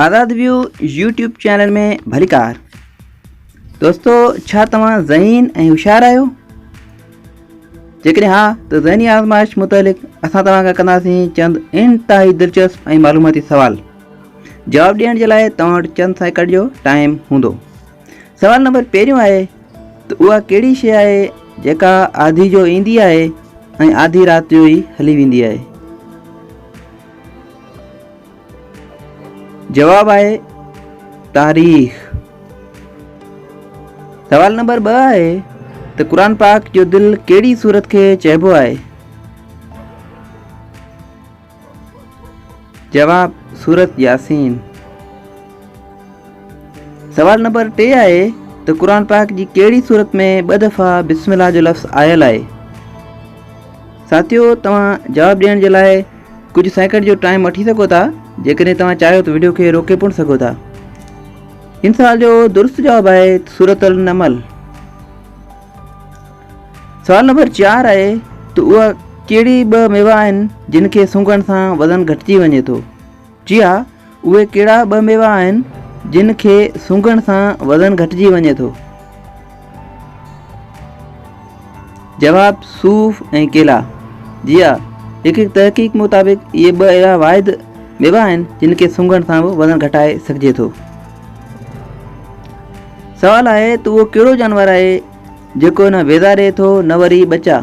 آزاد view YouTube channel ۾ ڀليڪار دوستو ڇا توهان ذهين ۽ هوشيار آهيو جيڪڏهن ها ته ذهني آزمائش متعلق اسان توهان کان ڪنداسين چند انتهائي دلچسپ ۽ معلوماتي سوال جواب ڏيڻ جي لاء توهان وٽ چند سيڪنڊ جو ٽائم هوندو سوال نمبر پهريون آهي ته اها ڪهڙي شيء آهي جيڪا آڌي جو ايندي آهي ۽ آڌي رات جو ئي هلي ويندي آهي جواب آهي تاريخ. سوال نمبر ٻه آهي ته قرآن پاڪ جو دل ڪهڙي صورت کي چئبو آهي؟ جواب سورت ياسين. سوال نمبر ٽي آهي ته قرآن پاڪ جي ڪهڙي صورت ۾ ٻه دفعا بسم الله جو لفظ آيل آهي؟ ساٿيو توهان جواب ڏيڻ جي لاء ڪجهه سيڪنڊ جو ٽائيم وٺي سگهو ٿا جيڪڏهن توهان چاهيو ته ويڊيو کي روڪي پڻ سگهو ٿا ان سوال جو درست جواب آهي سورت النمل سوال نمبر چار آهي ته اها ڪهڙي ٻه ميوا آهن جن کي سونگهڻ سان وزن گهٽجي وڃي ٿو جي ها، اهي ڪهڙا ٻه ميوا آهن جن کي سونگهڻ سان وزن گهٽجي وڃي ٿو؟ جواب، صوف ۽ ڪيلا. جي ها، هڪ تحقيق مطابق اهي ٻه اهڙا واحد ميوا آهن جن کي سونگهڻ سان به وزن گهٽائي سگهجي ٿو. سوال آهي ته اهو ڪهڙو جانور آهي جيڪو نه ويزا ڏئي ٿو نه وري ٻچا؟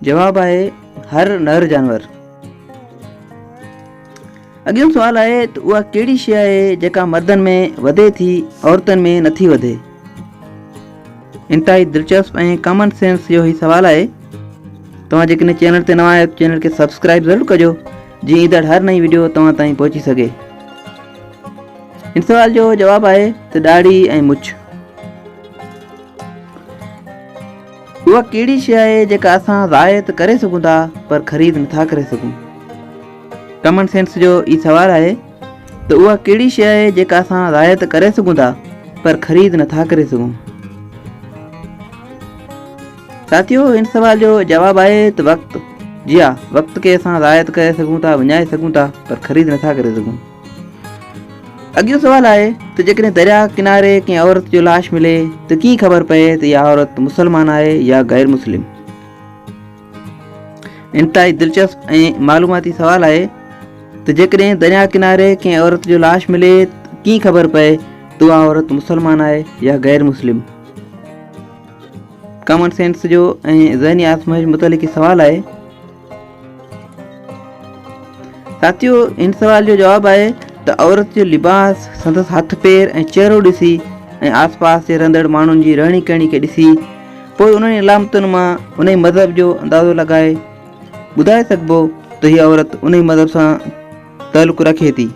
جواب آهي هر نر جانور. اڳيون سوال آهي ته اها ڪهڙي شيء آهي جيڪا مردن ۾ وڌي ٿي عورتن ۾ نٿي وڌي. انتهائي دلچسپ ۽ ڪامن سينس جو هي سوال آهي. توهان جيڪڏهن چينل تي نوان آهيو ته چينل کي سبسڪرائب ضرور ڪجو جي ايندڙ هر نئين ويڊيو توهان تائين پهچي سگهي. ان سوال جو جواب آهي ته ڏاڙهي ۽ مڇ. اها ڪهڙي شيء آهي جيڪا اسان رعايت ته ڪري سگهون ٿا پر خريد نٿا ڪري سگهون؟ ڪمن سينس جو ئي سوال آهي ته اها ڪهڙي شيء آهي جيڪا اسان رعايت ته ڪري سگهون ٿا پر خريد نٿا ڪري سگهون؟ ساٿيو هن سوال جو جواب آهي ته وقت. جي ها وقت کي اسان رعايت ڪري سگهون ٿا وڃائي سگهون ٿا پر خريد نٿا ڪري سگهون. اڳيون سوال آهي ته جيڪڏهن درياهه ڪناري ڪنهن عورت جو لاش ملي ته ڪيئن خبر پئي ته اها عورت مسلمان آهي يا غير مسلم انتهائي دلچسپ ۽ معلوماتي سوال آهي ته جيڪڏهن درياهه ڪناري ڪنهن عورت جو لاش ملي ڪيئن خبر پئي ته اها عورت مسلمان آهي يا غير مسلم ڪامن سينس جو ۽ ذهني آسمائش متعلق سوال آهي ساٿيو ان سوال جو جواب آهي ته عورت جو لباس سندس هٿ پير ۽ چهرو ڏسي ۽ آس پاس جي رهندڙ ماڻهن جي رهڻي ڪهڻي کي ڏسي پوء انهن علامتن مان ان جي مذهب جو اندازو لڳائي ٻڌائي سگهبو ته هي عورت ان جي مذهب سان تعلق رکي ٿي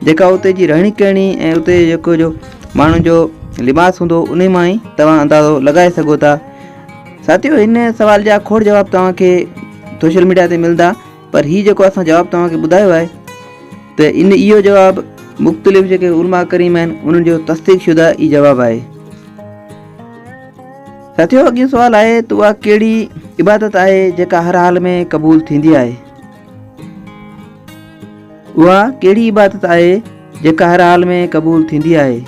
جيڪا اتي جي رهڻي ڪهڻي ۽ اتي جيڪو جو ماڻهن جو لباس هوندو انهي مان ئي توهان اندازو لڳائي سگهو ٿا ساٿيو ان سوال جا کوڙ جواب توهان کي سوشل ميڊيا تي ملندا پر هي جيڪو اسان جواب توهان کي ٻڌايو آهي ته ان اهو جواب مختلف جيڪي علماء ڪريم آهن انهن جو تصديق شده ئي جواب آهي ساٿيو اڳين سوال آهي ته اها ڪهڙي عبادت آهي جيڪا هر حال ۾ قبول ٿيندي آهي اها ڪهڙي عبادت آهي جيڪا هر حال ۾ قبول ٿيندي آهي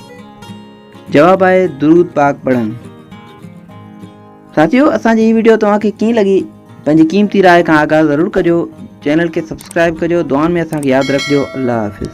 جواب آهي درود پاڪ پڙهڻ ساتھيو اسان جي هي ويڊيو توهان کي ڪيئن لڳي پنهنجي قيمتي راء کان آگاهه ضرور ڪجو چينل کي سبسڪرائب ڪجو دعائن ۾ اسان کي ياد رکجو الله حافظ